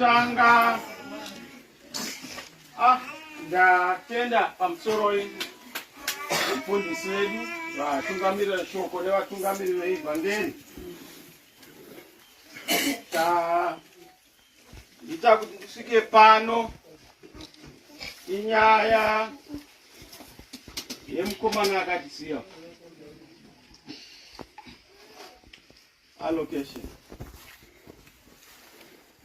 Tanga. Ah, ndatenda pamusoro mufundisi wedu vatungamirira shoko nevatungamiriri veivhangeri ita kuti ndisvike pano inyaya yemukomana akatisiya allocation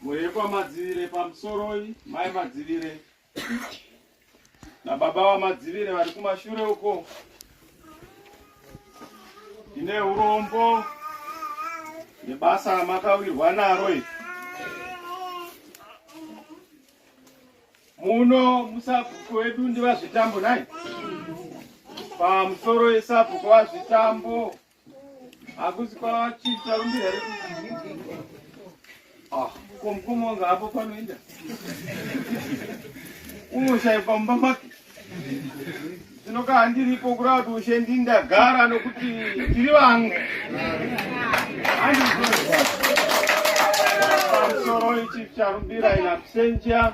mhuri yekwamadzivire pamusoroi mai madzivire nababa vamadzivire vari kumashure uko ine urombo nebasa ramakawirwa naro iri muno musabhuku wedu ndivazvitambo nai pamusoro esabhuku vazvitambo hakusi kwachiita rumbi here ah, ko mukoma wangu hapo panoenda unoshaye pamba make zvinoka handiripo kurava kuti ushe ndindagara nokuti tiri vangu pamusoro ichi charumbira inakusenja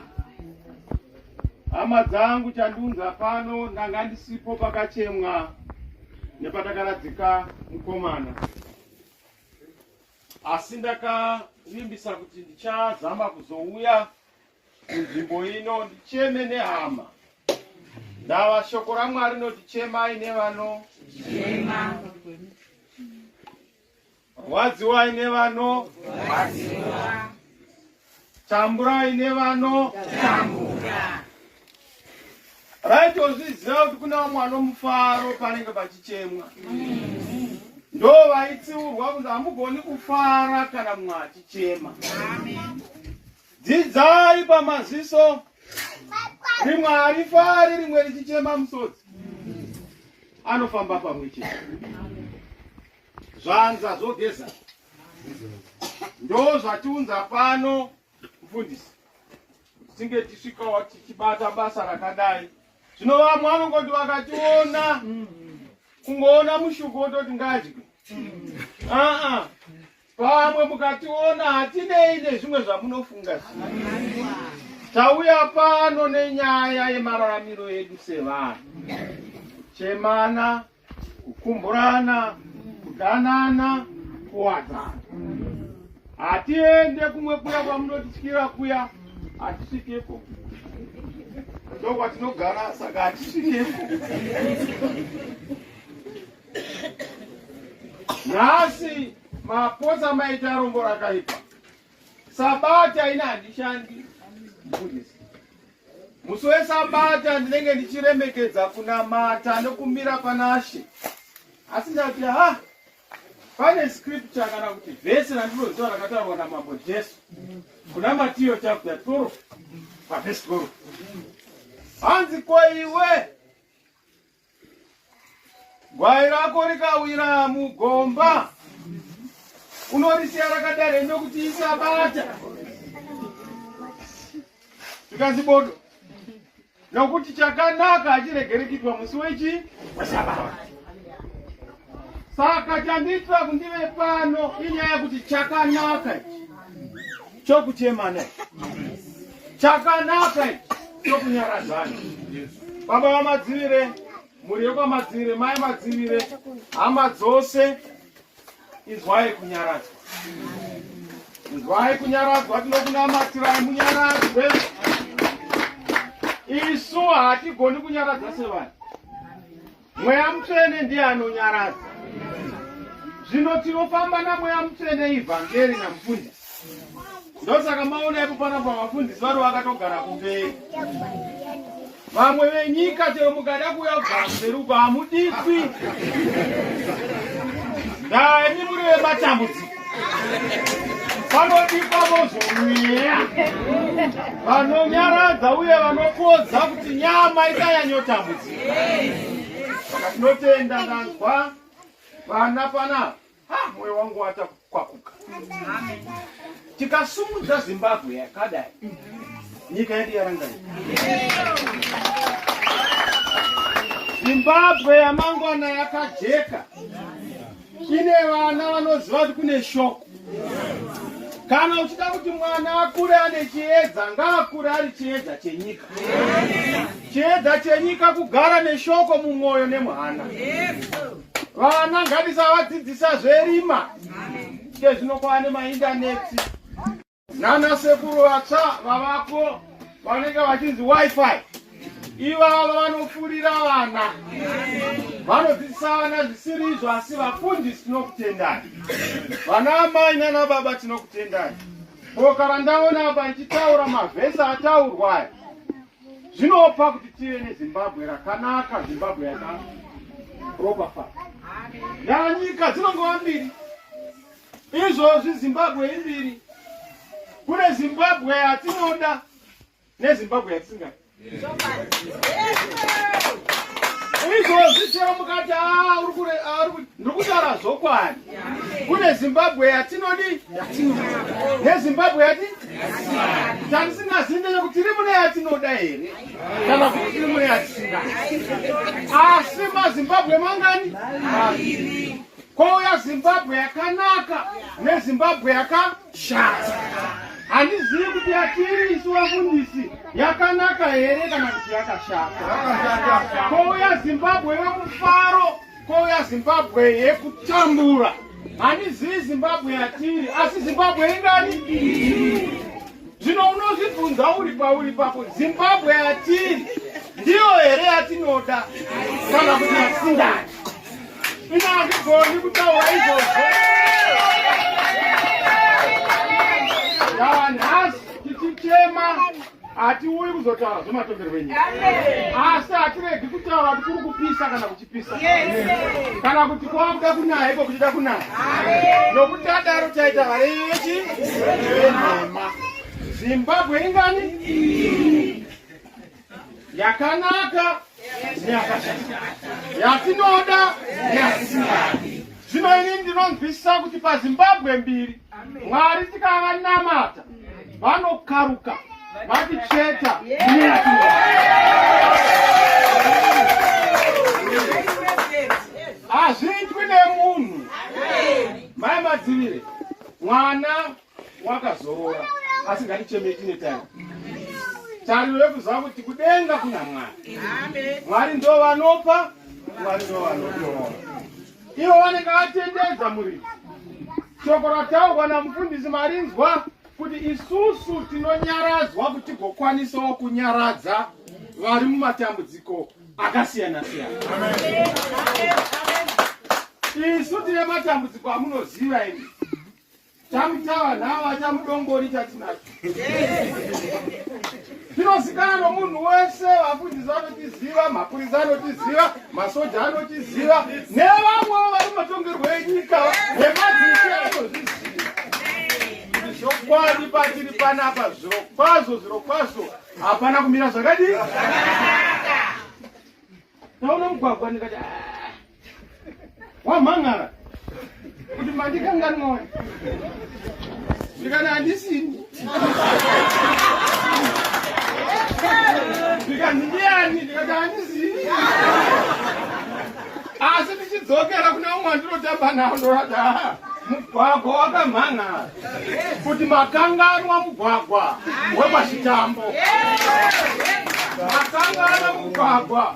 Hama dzangu chandiunza pano ndanga ndisipo pakachemwa nepatakaradzika mukomana. Asi ndakavimbisa kuti ndichazama kuzouya kunzvimbo ino ndicheme nehama. Ndava shoko raMwari noti chemai nevano chema. Rwadziwai nevano tamburai nevano tambura. Right, ozviziva kuti kuna vamwe vanomufaro panenge pachichemwa ndo vaitsiurwa kunzi hamugoni kufara kana mumwe achichema. Dzidzai pamaziso rimwe harifari rimwe richichema musodzi anofamba pamwe chete zvanza zvogeza ndo zvatiunza pano mfundisi tinge tisvikawo tichibata basa rakadai zvino vamwe vanongoti vakationa kungoona mushuku wototi ngadye aa Pamwe mukationa hatinei nezvimwe zvamunofunga zii. Tauya pano nenyaya yemararamiro edu sevanhu. Chemana, kukumburana, kudanana, kuwadzana. Hatiende kumwe kuya kwamunotityira kuya, hatisvikepo. Ndokwatinogara saka hatisvikepo. nhasi mapotsa maita rombo rakaipa sabata ina handishandi mufundisi musi wesabata ndinenge ndichiremekedza kunamata nokumira panashe asi ndati ha pane scripture kana kuti vhesi randinoziva rakataurwa namambo jesu kuna matiyo chapter 12 pavhesi 12 hanzi koiwe Gwai rako rikawira mugomba unorisiya rakadaro ende kuti isabata zvikanzi bodo nokuti chakanaka hachiregerekitwa musi wechi wesabata saka chandiitira kundive pano inyaya kuti chakanaka chokuchemana chakanaka chokunyaradzana baba vamadzivire mhuri yekwamadzivire mai madzivire hama dzose inzwai kunyaradzwa inzwai kunyaradzwa tinokunamatirai munyaradzwe isu hatigoni kunyaradza sevanhu Mweya mutsvene ndiye anonyaradza. Zvino tinofamba namweya mutsvene ivhangeri namufundisi. Ndosaka maona ipo pana pavafundisi vari vakatogara kumberi. Vamwe venyika chero mukada kuuya kugara kumberi uko hamudikwi. Dai muri vematambudziko. vanodikwa vozvomweya vanonyaradza uye vanopodza kuti nyama isanyanyotambudzika saka tinotenda ndanzwa vana panapa ha mwoyo wangu wata kwakuka tikasumudza zimbabwe yakadai nyika yedu yarangai zimbabwe yamangwana yakajeka Ine vana vanoziva kuti kune shoko. Kana uchida kuti mwana akure ane chiedza, ngaakure ari chiedza chenyika. Chiedza chenyika kugara neshoko mumwoyo nemuhana. Vana ngatisa vadzidzisa zverima. Kezvino kwaane maindaneti. nana sekuru vatsva vavapo vanenge vachinzi wifi ivava vanofurira vana vanodzidzisa vana zvisiri izvo asi vafundisi tinokutendai vana amai nana baba tinokutendai boka randaona apa richitaura mavhesi ataurwa aya zvinopa kuti tive nezimbabwe rakanaka zimbabwe yakaropafaa nyika dzinongova mbiri Izvozvi Zimbabwe imbiri. Kune Zimbabwe yatinoda neZimbabwe yatisingadi. Izvozvi chero mukati ah, ah, ndiri kutaura zvokwadi. Kune Zimbabwe yatinodi neZimbabwe yati tatisingazivi ndeyekuti tiri mune yatinoda here kana kuti tiri mune yatisingadi. Asi maZimbabwe mangani? Kouya Zimbabwe yakanaka neZimbabwe yakashata. Handizivi kuti yatiri isu vafundisi yakanaka here kana kuti yakashata. Kouya Zimbabwe yomufaro, kouya Zimbabwe yekutambura. Handizivi Zimbabwe yatiri, asi Zimbabwe ingani? Zvino unozvibvunza uri pauri pako, Zimbabwe yatiri ndiyo here yatinoda kana kuti yasingadi? hatiuyi kuzotaura zvematongerwo enyika asi hatiregi kutaura kuti kuri kupisa kana kuchipisa kana kuti kwakuda kunaya iko kuchida kunaya nokuti adaro taita varevi vechi venhema zimbabwe ingani yakanaka neyakashata yatinoda neyatisingadi zvino ini ndinonzwisisa kuti pazimbabwe mbiri mwari tikavanamata vanokaruka vaticheta hazviitwi nemunhu mai madzivire mwana wakazorora asi ngaticheme tine time tariro yekuziva kuti kudenga kuna mwari mwari ndo vanopa mwari ndo vanotora ivo vanenge vatendedza muriri shoko rataurwa namufundisi marinzwa kuti isusu tinonyaradzwa kuti gokwanisawo kunyaradza vari mumatambudziko akasiyana siyana isu tine matambudziko amunoziva ini Chamutawa nhawa chamudongori chatinacho. Tinozikanwa nomunhu wese, vafundisi vanotiziva, mapurisa anotiziva, masoja anotiziva, nevamwewo vari matongerwo enyika nemadzishe anozviziva. Zvokwadi patiri panapa zvirokwazvo zvirokwazvo hapana kumira zvakadii? Taona mugwagwa ndikati ah, wamhan'ara kuti mandikanganwa ndikana handisini ndikanzi ndiyani ndikati handisini asi ndichidzokera kune umwe andinotamba nawo ndorada mugwagwa wakamhan'ara kuti makanganwa mugwagwa wekwachitambo makanganwa mugwagwa